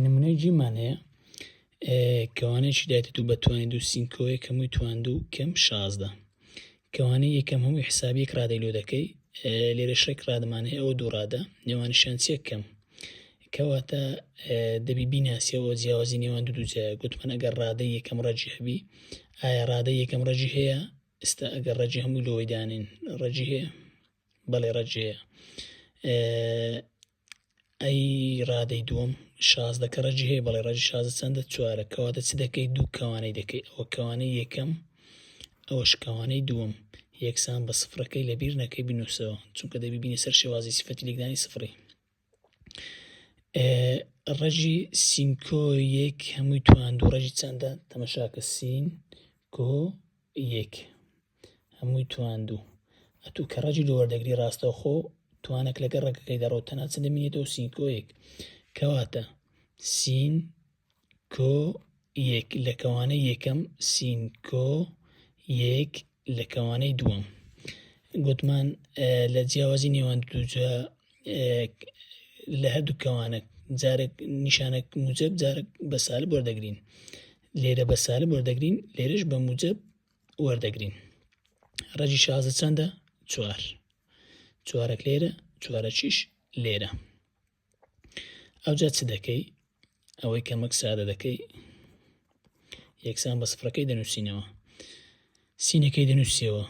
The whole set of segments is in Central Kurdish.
نمونەی جیمان هەیە کەوانەیەکی دایتە دوو بە توانی دوو سینکۆیەک هەمووی توان دوو کەم شازدە کەوانەی یەکەم هەمووی حسابیەک ڕادەی لۆ دەکەی لێرە شێک ڕادمان هەیە ئەو دوو ڕادە نێوانشیان چێک کەم کەواتە دەبی بیناسیەوە جیاوازی نێوان دوو دوجە گوتمان ئەگەر ڕادەی یەکەم ڕەجی هەبی ئایا ڕادە یەکەم ڕەجی هەیە ئستا ئەگەر ڕەجی هەموو لۆی دانین ڕەجی هەیە بەڵێ ڕەجەیە ئەی ڕادەی دووەم شازدە کە ڕەجی هەیە بەڵێ ڕەجی شازدە چەندە چوارە کەواتە چ دەکەی دوو کەوانەی دەکەی ئەوە کەوانەی یەکەم ئەوە شکەوانەی دووەم یەکسان بە سفرەکەی لە بیر نەکەی بنووسەوە چونکە دەبی بینە سەر شێوازی سفەتی لێکدانی سفری ڕەژی سینکۆ یەک هەمووی توان دوو ڕژی چەندە تەمەشاکە سین کۆ یەک هەمووی تواندوو ئەتوو کە ڕەجی لۆ وەردەگری ڕاستەوخۆ توانەک لەگە ڕەگەکەی دەڕۆت تەنها چ دەمینێتەوە سینکۆیەک کەواتە سین کۆ یەک لە کەوانە یەکەم سین کۆ یەک لە کەوانەی دووەم گوتمان لە جیاوازی نێوان دووجا لە هەردوو کەوانە جارێک نیشانێک موجب جارێک بە سالب وەردەگرین لێرە بە سالب وەردەگرین لێرش بە موجب وەردەگرین ڕەجی شازە چەندە چوار چوارەک لێرە چوارەکیش لێرە ئەوجا چ دەکەی ئەوەی کەمەک سادە دەکەی یەکسان بە سفرەکەی دەنووسینەوە سینەکەی دەنووسیەوە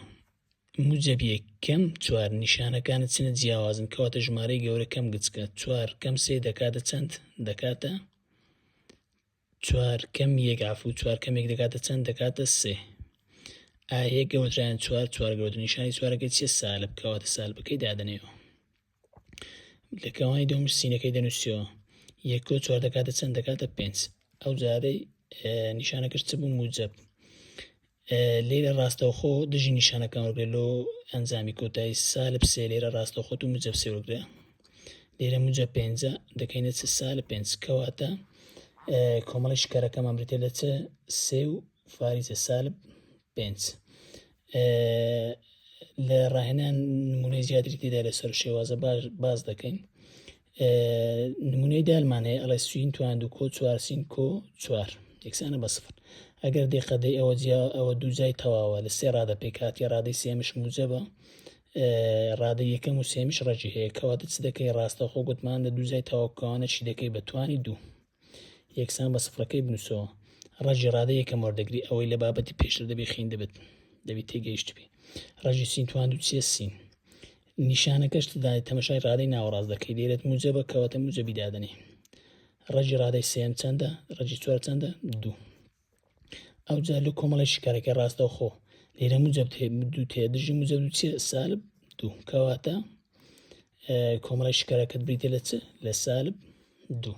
موجەبیە کەم چوار نیشانەکانە چنە جیاوازن کەواتە ژمارەی گەورە کەم گچکە چوار کەم سێ دەکاتە چەند دەکاتە چوار کەم یەک عفو چوار کەم یەک دەکاتە چەند دەکاتە سێ ئایە گەوەدرایان چوار چوار گەوەدر نیشانی چوارەکەی چیە سالب کەواتە سالبەکەی دادەنێەوە لە کەوانی دەم سینەکەی دەنووسەوە یەکۆ چوار دەکاتە چەند دەکاتە پێنج ئەو جارەی نیشانەکەش چ بوو موجب لێرە ڕاستەوخۆ دژی نیشانەکان وەرگرە لۆ ئەنجامی کۆتایی سالب سێ لێرە ڕاستەخۆ و مجەب سێ وەرگرە لێرە مجە پێنجە دەکەینە چ سالب پێنج کەواتە کۆمەڵی شکارەکەمان بریتە لە چ سێ و فاریزە سالب پێنج لە ڕاهێنان نمونەی زیاتری تێدا لەسەر شێوازە باش باز دەکەین نمونەی دالمان هەیە ئەڵێ سوین توان دوکۆ چوار سینکۆ چوار یەکسانە بە سفر ئەگەر دێ قەدەی ئەوە جیا ئەوە دوو جای تەواوە لە سێ ڕادە پێکاتی ڕادەی سێمش موجەبە ڕادە یەکەم و سێمیش ڕێکی هەیە کەواتە چ دەکەی ڕاستەخۆ گوتمان لە دوو جای تەواوکەوانە چی دەکەی بە توانی دوو یەکسان بە سفرەکەی بنووسەوە ڕەجی ڕادە یەکەم وەردەگری ئەوەی لە بابەتی پێشتر دەبێ خین دەبێت دەبی تێگەیشتبی ڕەجی سین توان و چیە سین نیشانەکەش دای تەمەشای ڕادەی ناوەڕاست دەکەی دەێت موجە بە کەواتە موجە بیدادنی ڕەجی ڕادەی سێم چەندە ڕەجی چوار چەندە دوو ئەو جار لە کۆمەڵی شکارەکە ڕاستە خۆ لێرە موجب دوو تێ دژی موجە دوو چێ سالب دوو کەواتە کۆمەڵی شکارەکەت بریتە لە چ لە سالب دوو